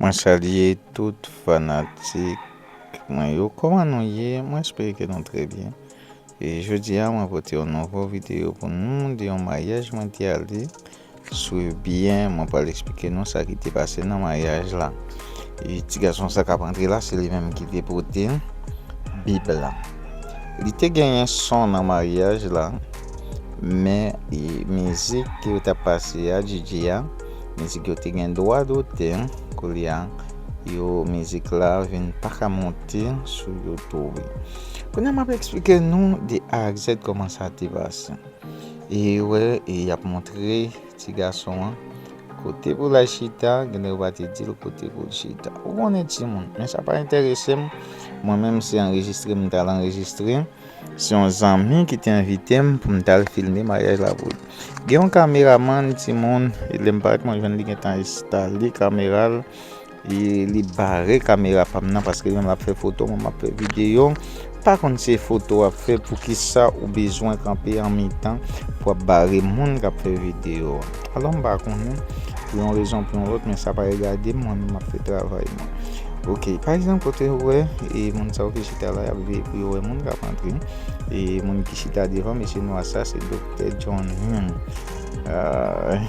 Mwen salye tout fanatik mwen yo kòman nou ye mwen espere ke nou trè byen e jodi a mwen pote yon nouvo videyo pou nou de yon maryaj mwen te ale swiv byen mwen pral esplike nou sa ki te pase nan maryaj la e ti gason sa kap antre la se li menm ki te pote bib la li te genyen son nan maryaj la men mizik ki yo tap pase a DJ a Mizik yo te gen dwa dote koulye a yo mizik la vin paka monte sou youtube kounye a map eksplike nou de a ak zèd kòman sa te pase e wè e yap montre ti gason an kote pou lal chita gen lè yo pa te dil kote poul chita ou konnen timoun men sa pa entèresem mwen menm se anrejistre m tal anrejistre. Se yon zanmi ki te envite m pou m t al filme maryaj la pou l. Gen yon kameramann timoun e lè m parèt mwen jwenn li gentan enstale kamera l e li bare kamera pa m nan paske li menm l ap fè foto mwen m ap fè videyo. M pa konn se foto w ap fè poukisa ou bezwen kanpe an mitan pou w ap bare moun k ap fè videyo a. Alò m pa konnen pou yon rezon pou yon lòt men sa pa regade m mwen menm m ap fè travay mwen. Ok pa egzanp kote ou wè e moun sa yo ki. lopital la yap veye pou yo wè moun kap antre e moun ki chita devan mesye nwa sa se doktè John Hume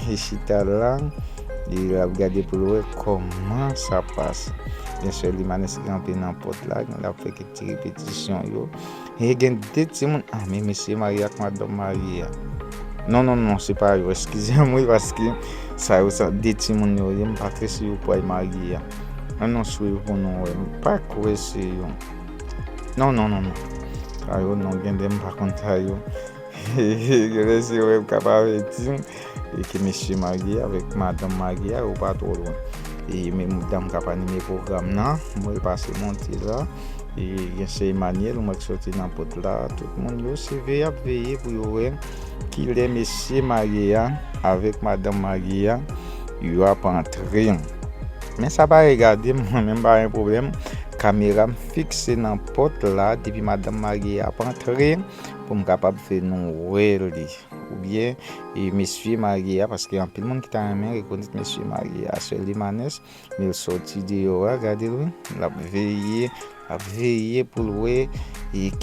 li chita la li ap gade pou l wè kòman sa pase gen sè Limanes ki kanpe nan pòt la li ap fè kèk ti repetisyon yo e gen 2 ti moun a men mesye marye ak madanm marye non non non se pa yo eskize m wi paske sa yo sa 2 ti moun yo ye m pa trè si yo pwal marye An nou swiv pou nou wè. M pa kwè se yon. Non non non non. Sa yo non gen de m pa konn sa yo. Gen lè se wè m k ap avèti m. E ke mesye marye a avèk madanm marye a yo pa twò lwen. E menm dam k ap anime pwogram nan. M wè l pase monte la. E gen sè Emanyèl m wè k soti nan pòt la. Tout moun yo se veye y ap veye pou yo wè. Kilè mesye marye a avèk madanm marye a yo ap antre. Men sa pa regade m mwen menm m pa gen pwoblèm kamera m fikse nan pòt la depi madanm marye a ap antre pou m kapab fè nou wè li oubyen mesye marye a paske anpil moun ki ta renmen rekonèt mesye marye a Seuly Manès. Neel soti deyò a gadel wi lap veye lap veye poul wè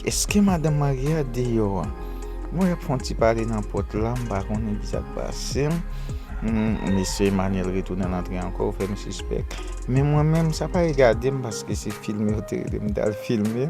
eske madanm marye a deyò an m wè yap fon ti pale nan pòt la m pa konnen kisak pasem humm mesye Emmanuel retounen antre ankò ou fèm sispèk men mwen menm sa pa regadem paske se film yo te relem tal filme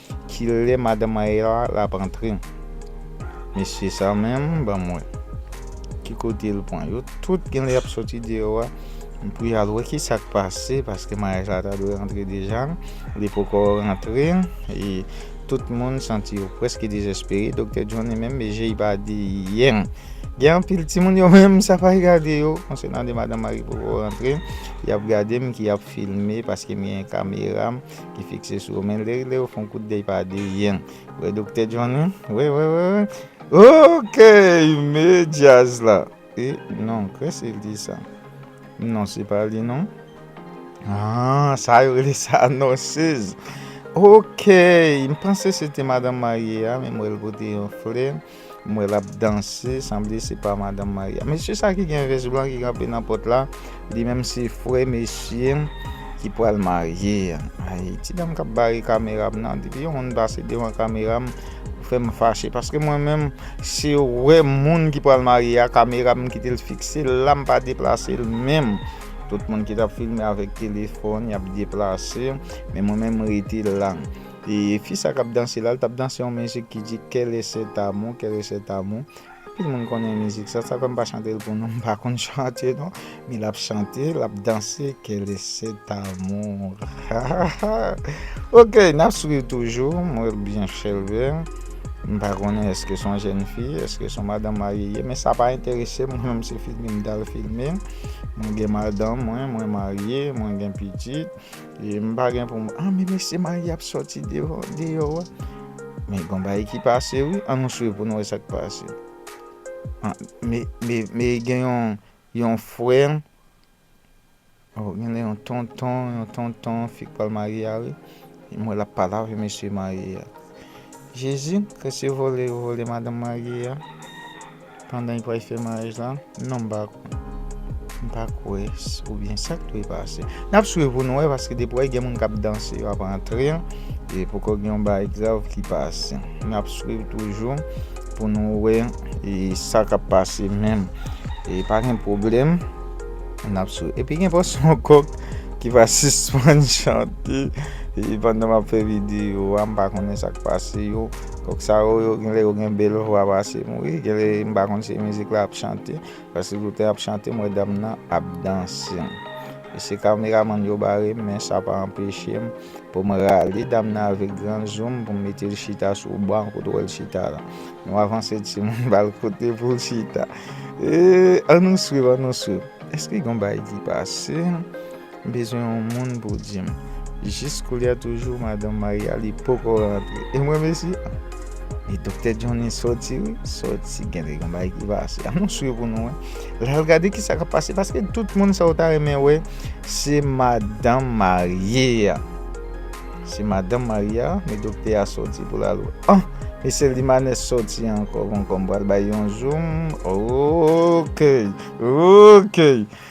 Kilè madan Maëla la ap antre. Mesye sa menm banm wè ki kote l pran yo tout genlè yap soti deyò a pou yal wè kisak pase paske maryaj la ta dwe rantre deja li poko rantre e tout moun santi yo preske dezespere doktè Johnny menm je y pa di yen gen anpil timoun yo menm sa pa gade yo konsènan de madan Marie poko rantre yap gade m ki ap filme paske m gen kamera m ki fikse sou ou men lè lè ou fon kout dey pa de yen wè doktè Johnny wè wè wè wè ok me jazz la e non kwe se li sa non se pa li non ah sa yo le sa non sez ok m panse se te madan marye a men m wè l pote yon flè M wè lap danse sanble se pa madanm Maria. Mesye sa ki gen vès blan ki kanpe nan pòt la li menm se frè mesye ki pral marye an ayy ti dam kap bare kamera m nan depi yon moun pase devan kamera m ou fè m fache paske mwen menm se wè moun ki pral marye a kamera m kite l fikse l la m pa deplase l menm tout moun ki tap filme avèk telefòn yap deplase men mwen menm m rete la. E fi sa kap danse la, li tap danse yon mizik ki di quel est cet amour, quel est cet amour. Anpil moun konnen mizik sa, sa fè m pa chante l pou nou, m pa konn chante non, men lap chante, lap danse quel est cet amour hahahaa ok nap swiv toujou, m wè l byen chèlbè, m pa konnen eske son jèn fi, eske son madanm marye ye, men sa pa enterese m, mwen m se filme m tal filme, mwen gen madanm mwen, mwen marye, mwen gen pitit. M pa gen pou m an men mesye marye ap soti deyò wa men gon bagay ki pase wi an nou swiv pou nou wè sa k pase me gen yon frè gen yon tonton yon tonton fi k pral marye a wi m wè l ap pale avè mesye marye a jezi kèse vòlè yo vòlè madanm marye a. Pandan li pral fè maryaj la. Non m pa kwè. M pa kwè oubyen sa k dwe pase. N ap swiv pou nou wè paske depi w wè gen moun k ap danse yo ap antre e poko gen yon bagay grav ki pase. N ap swiv toujou pou nou wè e sa k ap pase menm. E pa gen pwoblèm. N ap swiv. Epi gen fò se yon kòk ki pa sispann chante pandan m ap fè videyo a. M pa konnen sa k pase yo. Kok sa yo yo genlè yo gen bel vwa pase m wi genlè m pa konn se mizik la ap chante paske tout lè yap chante m wè dam nan ap danse e se kameramann yo bare m men sa pa anpeche m pou m rale dam nan avèk gran zoom pou m mete l chita sou ban kote w wè l chita la nou avanse timoun ba l kote pou l chita eeee an nou swiv an nou swiv eske gen yon bagay ki pase. M bezwen yon moun pou dim. Jis koulya toujou madanm Maria li poko rantre e mwen mesi a e doktè Johnny soti wi soti gen de gen bagay ki pase an nou swiv pou nou wè lal gade kisa kap pase paske tout moun sa ou ta renmen wè se madanm marye a se madanm marye a men doktè a soti pou lal wè an mesye limanes soti ankò bon kòm pral bay yon zoom ookey ookey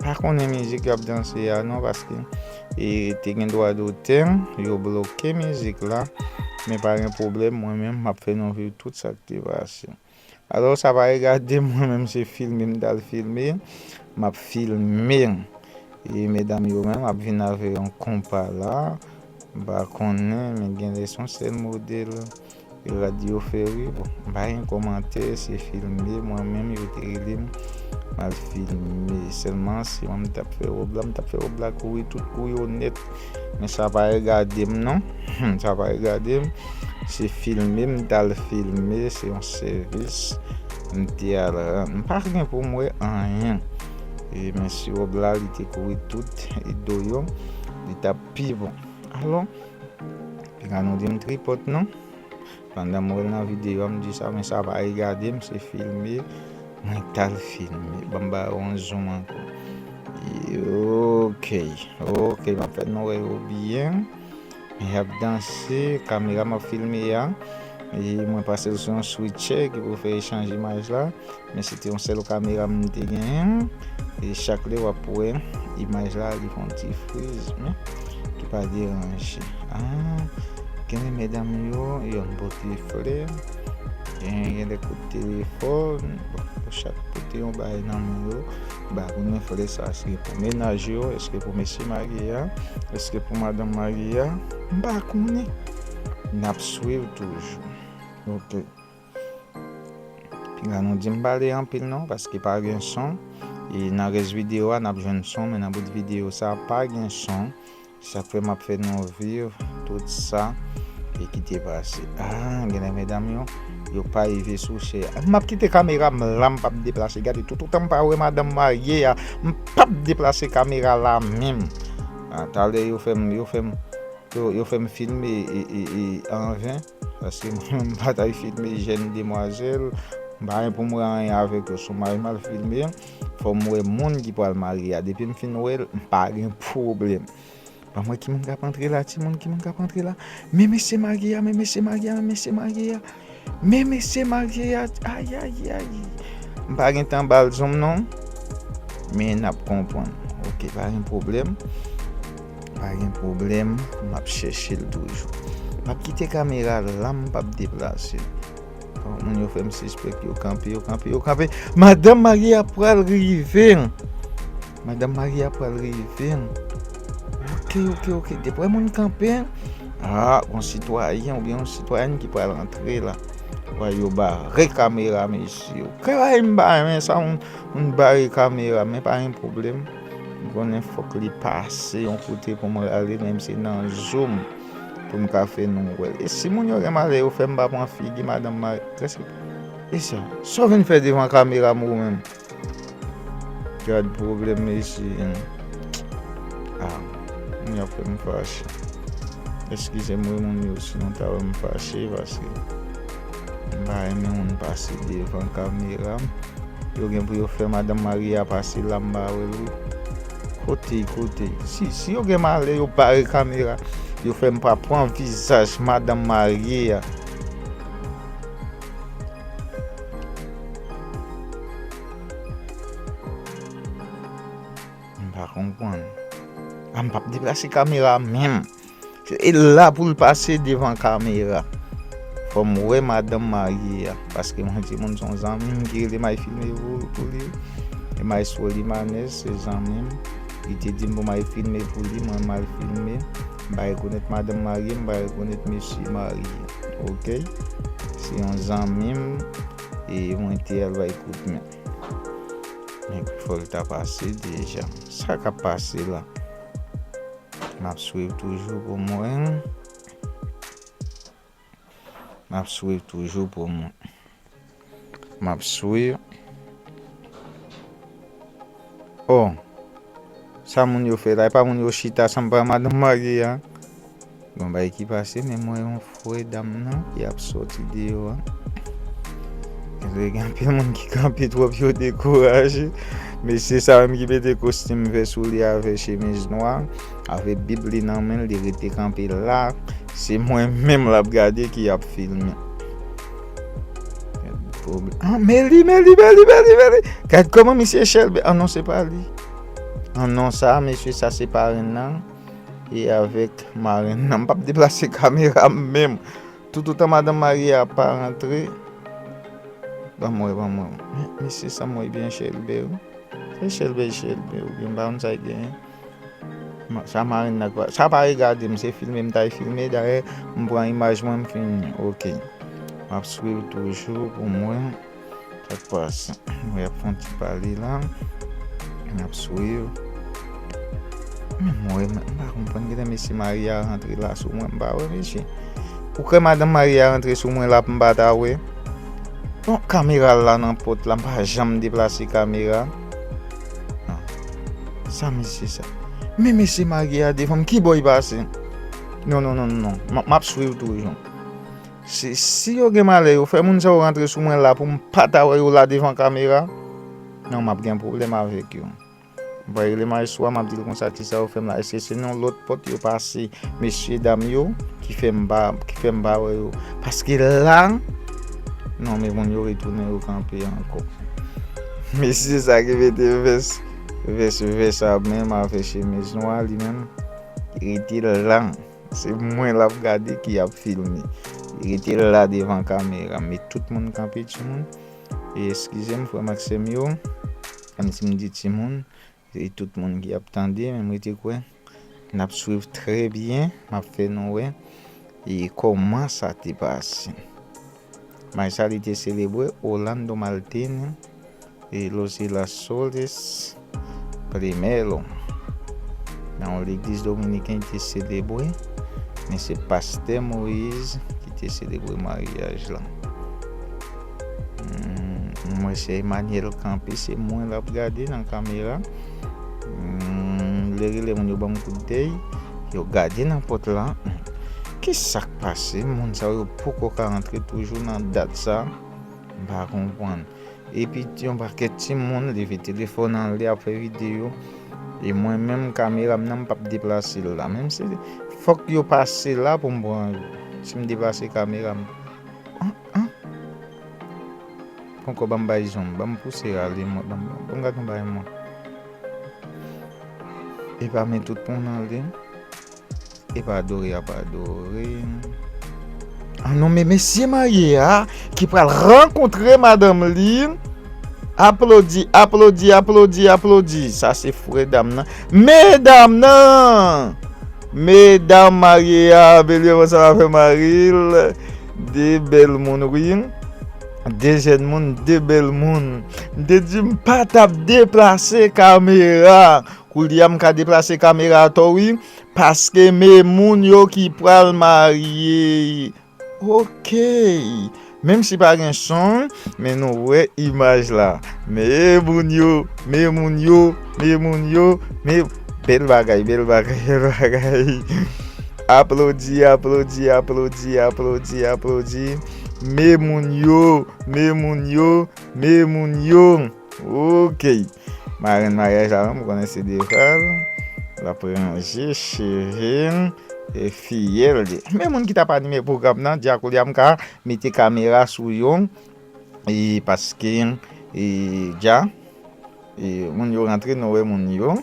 Pa konnen mizik yap danse a non paske te gen dwa dotè yo bloke mizik la men pa gen pwoblèm mwen menm map fè nou viv tout sak te pase alò sa pa regadem mwen menm se filme m tal filme map filme e medam yo menm ap vin avè yon konpa la m pa konnen men genlè son sèl modèl. Radio ferre bon m pa gen komantè se filme mwen menm yo te relem mal filme selman si mwen m tap fè rob la m tap fè rob la kouri tout kou yo net men sa pa regadem non sa pa regadem se filme m tal filme se yon sèvis m te al rann m pa gen pou m wè anyen e men si rob la li te kouri tout do yo li tap pi bon alon. Piga nou dim tripot non. Pandan m wèl nan video m di sa men sa pa regade m se filme mwen tal filme banm ba yo yon zoom ankò ok ok map fè nou wè yo byen yap danse kamera map filme a mwen pasel sou yon switche ki pou fè echanje imaj la. Men se te yon sèl kamera m te genyen e chak lè w ap wè imaj la li fè yon ti friz men ki pa deranje aa genyen medam yo yo ap pote flè genyen gen lè kout telefòn bon pou chak pote yon bagay nan men yo ba renmen flè sa eske pou menaj yo eske pou mesye marye a eske pou madanm marye a m pa konnen n ap swiv toujou ok. La nou dim pale anpil non paske pa gen son e nan rès video a nap jwenn son men nan bout video sa pa gen son sak fè map fè nou viv tout sa e ki te pase ah genlè medam yo yo pa rive sou chè a map kite kamera m la m pap deplase gade tout otan m pa wè madanm marye a m pap deplase kamera la menm talè yo fèm yo fèm yo fèm filme e e e anven. Paske mwen m pa tay filme jèn demwazèl, m pa gen pou m wè anyen avèk yo. Si yon maryaj m al filme, fò m wè moun ki pral marye a. Depi m fin wè l, m pa gen pwoblèm. Banm wè ki moun k ap antre la, ti moun, ki moun k ap antre la. Men mesye marye a, men mesye marye a, men mesye marye a. Men mesye marye a, ayayayy. M pa gen tan ba l zonm non. Men n ap konprann. Ok, pa gen pwoblèm. Pa gen pwoblèm map chèchel toujou. Map kite kamera la m pap deplase. Bon moun yo fèm sispèk yo kanpe yo kanpe yo kanpe madanm marye a pral rive madanm marye a pral rive ok ok ok deprè moun kanpe ah gon sitwayen oubyen yon sitwayèn ki pral antre la wè yo bare kamera mesye yo kay m bare sa moun bare kamera men pa gen pwoblèm. M konnen fok li pase yon kote pou m rale menm se nan zoom pou m ka fè nou wè l. E si moun yo gen malè yo fè m pa pran figi madanm mareske e sa sa w vin fè devan kamera m ou menm? Gad pwoblèm mesye an ah moun yo ap fè m fache. Eskize m wi moun yo si nou ta wè m fache paske. M pa renmen moun pase devan kamera m. Yo gen pou yo fè madan Maria pase la m pa wè l wi. Kote kote. Si yo gen malè yo bare kamera yo fè m pa pran vizaj madan Marie a. M pa konprann. A m pap deplase kamera menm. E la poul pase devan kamera. Fòm wè madanm marye a. Paske mwen di moun son zanmim ki rele may filme pou li. E may sou limanez se zanmim. Li te dim pou may filme pou li mwen mal filme. Mpa rekonet madanm marye mpa rekonet mesye marye. Ok. Se yon zanmim e mwen te al bay kout men. Fòl ta pase deja. Sa kap pase la. Map swiv toujou pou mwen. Map swiv toujou pou mwen. Map swiv. Oh. Sa moun yo fè la. E pa moun yo chita san pa madanm marye a. Bon bagay ki pase men mwen. Voye dam nan ki ap soti deyo an. Vre gen anpil moun ki kanpe twòp yo dekouraje. Mesye sa menm ki mete kostim vè sou li avè chemiz nwa, avè bib li nan men l, li rete kanpe la. Se mwen menm l ap gade ki ap filme. An men li, men li, men li, men li, men li. Gad kòman misye chelbe. An non se pa li. An non sa mesye sa se parenn nan. e avèk marenn nan. M pap deplase kamera m menm. Toutotan madanm marye a pa rantre. Ban m wè, ban m wè. Men, mesye sa m wè byen chèlbè wi. Se chèlbè, chèlbè ou byen m pa konn sa l genyen. Sa marenn nan kwa. Sa pa regade m, se filme m ta y filme. Dayè, m pran imaj mwen m fin. Ok. M ap swiv toujou pou m wè. Sak pas mwen ap fon ti pale la map swiv mwen pa konprann genlè mesye maria rantre la sou mwen mpa wè mesye ou kwè madanm maria rantre sou mwen la pou mpa ta wè bon kamera la nan pot la mpa janm deplase kamera sa mesye sa men mesye maria devanm kibò li pase non non non map swiv toujou. Se si yo gen malè yo fè moun sa yo rantre sou mwen la pou m pa ta wè yo la devan kamera nan m ap gen pwoblèm avèk yo. M va rele mayestwo a m ap di l konsa ti sa yo fè m la èske se nan lòt pòt yo pase mesye dam yo ki fè m pa wè yo paske la non men moun yo retounen yo kanpe ankò mesye sa ki mete vès vès vè sa menm avè chemiz nwa li menm rete la. Se mwen lap gade ki ap filme. Rete la devan kamera. Met tout moun kanpe ti moun. E eskize m frèm ak sèm yo. Menm si m di ti moun. Se tout moun ki ap tande. Menm rete kwè. Nap swiv trè byen. Map fè nou wè. E koman sa te pase. Match sa li te selebre Orlando Maltin e Los Girasoles Primero. Nan yon legliz dominiken li te selebre, men se pastè Moise ki te selebre maryaj lan. Mwen se Emmanuel kanpe se mwen lap gade nan kamera. M vle rele moun yo banm kout dey Yo gade nan pòt la Kisak pase moun sa yo poko ka antre toujou nan dat sa M pa konprann Epi yon pakèt timoun leve telefòn an lè ap fè videyo E mwen menm kamera m nan m pap deplase l la menm si Fòk yo pase la pou m pran yo Si m deplase kamera m An an. Ponkò banm bay janm banm pouse rale mwen banm banm gad yon bagay mwen epa men tout pon nan li epa adore yap adore ah non men mesye marye a ki pral rankontre madanm li aplodi aplodi aplodi aplodi sa se fou medam nan medam nan medam marye a belye konsa la fè maril. De bèl moun wi. De jèn moun, de bèl moun. M te di m pa t ap deplase kamera. Koulye a m ka deplase kamera a to wi. Paske me moun yo ki pral marye. Ok. Menm si pa gen son, men nou wè imaj la. Me moun yo, me moun yo, me moun yo. Bèl bagay, bèl bagay, bèl bagay. Aplodi aplodi aplodi aplodi aplodi Me moun yo me moun yo me moun yo Ok Marenn maryaj la menm ou konnen se Deval L ap ranje cheve l e fiyèl li Men moun ki t ap anime pwogram nan Di a koulye a m ka mete kamera sou yo e paske e Di a e moun yo rantre nou wè moun yo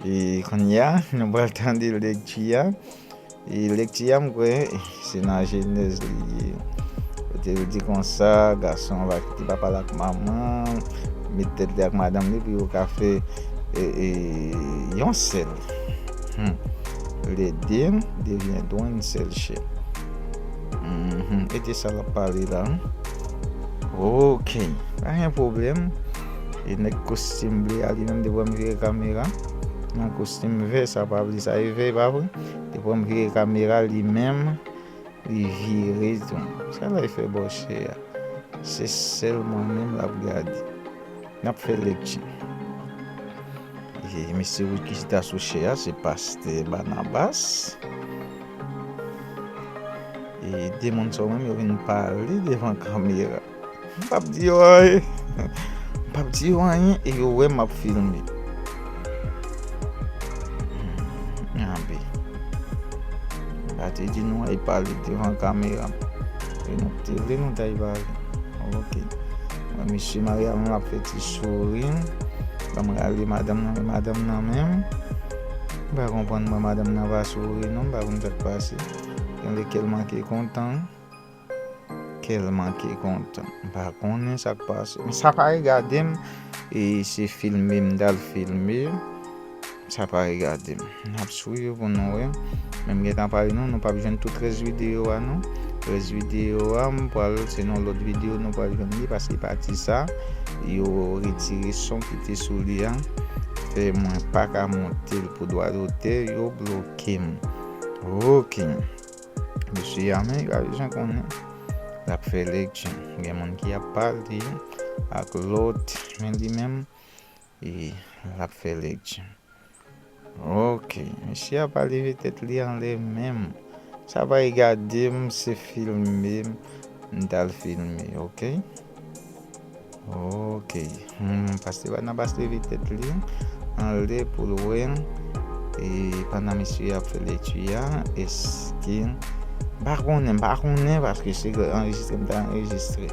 E kounye a, nou pral tande lekti a. E lekti a, m kwè, se nan Jenèz li ye. Kote li di konsa, gason va kite papa l ak manman l, met tèt li ak madanm li pou yo ka fè yon sèl. Lè de devyendront yn sèl chè. E de sa l ap pale la. Ok, pa gen pwoblèm. E nèg kostim ble a li menm depi wè m vire kamera nan kostim vè sa pa vle sa e vè e pa vre? Depi wè m vire kamera li menm li vire tou. Sa lè fè bòche a? Se sèl mwen menm lap gade. Nap fè lekti. Mesye Wilky ki ta sou chè a se pastè Barnabas. E de moun sa yo menm yo vin pale devan kamera. M pa p di yo anyen. M pa p di yo anyen e yo wè m ap filme. Anbe. M pa te di nou al pale devan kamera. E nou te vle nou t al pale. Ok. Mwen mesye Maria m ap fè ti souri. Ban m rale madanm nan men madanm nan menm. M pa konprann mwen madanm nan pa souri non. M pa konn sa k pase. Gen lè kè l manke kontan. Kèl manke kontan m pa konnen sak pase m sa pa regadem e se filme m dal filme sa pa regadem nap swiv pou nou wè men m gentan pale nou nou pap jwenn tout rès video a non rès video a m pral se nan lòt video nou pral jwenn li paske pati sa yo retire son ki te sou li a fè mwen paka montel pou dwa dotè yo blokem ok. Mesye a men gade jan konnen lap fè lekti gen moun ki ap pale ak lòt men li menm e lap fè lekti ok mesye a pa leve tèt li anlè menm sa bay gadem se filme m tal filme ok. Ok humm pastè Barnabas leve tèt li anlè poul wè e pandan misye ap fè lekti a eske mpa konnen mpa konnen paske se anrejistre mta anrejistre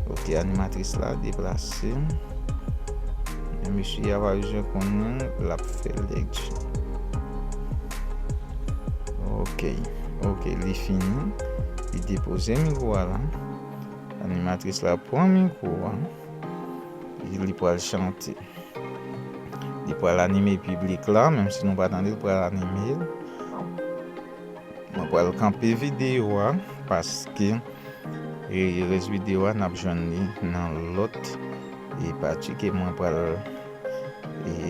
ok animatris la deplase men misye a pa bezwen konnen lap fè lekti ok ok li fini li depoze mikwo a la. Animatris la pran mikwo a, epi li pral chante. Li pral anime piblik la, menm si nou pa tande l pral anime l. Mwen pral kanpe videyo a, paske rès videyo a n ap jwenn li nan lòt pati ke mwen pral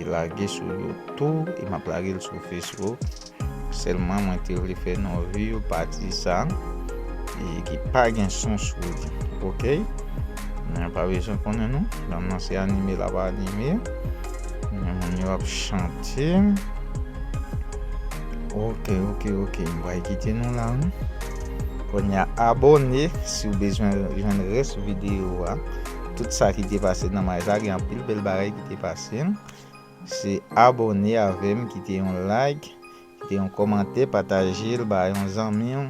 lage sou YouTube, e m ap lage l sou Facebook. Selman mwen te vle fè non view pati sa ki pa gen son sou li ok mwen pa bezwen konnen non dam nan se anime lap anime men moun yo ap chante ok ok ok m pral kite nou la wi konya abone siw bezwen jwenn res video a tout sa ki te pase nan may sa gen anpil bel bagay ki te pase. Se abone avem kite yon like kite yon komante patajel ba yon zanmiw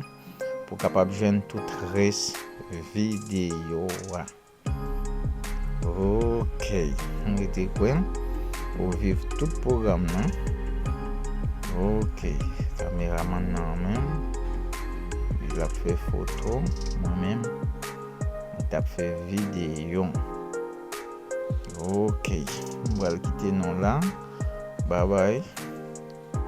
pou kapab jwenn tout res video wa ok m rete kwem ou viv tout program nan ok kameraman nan anmenm li lap fe foto mwen menm m tap fe video. Ok m pral kite nou la bye bye.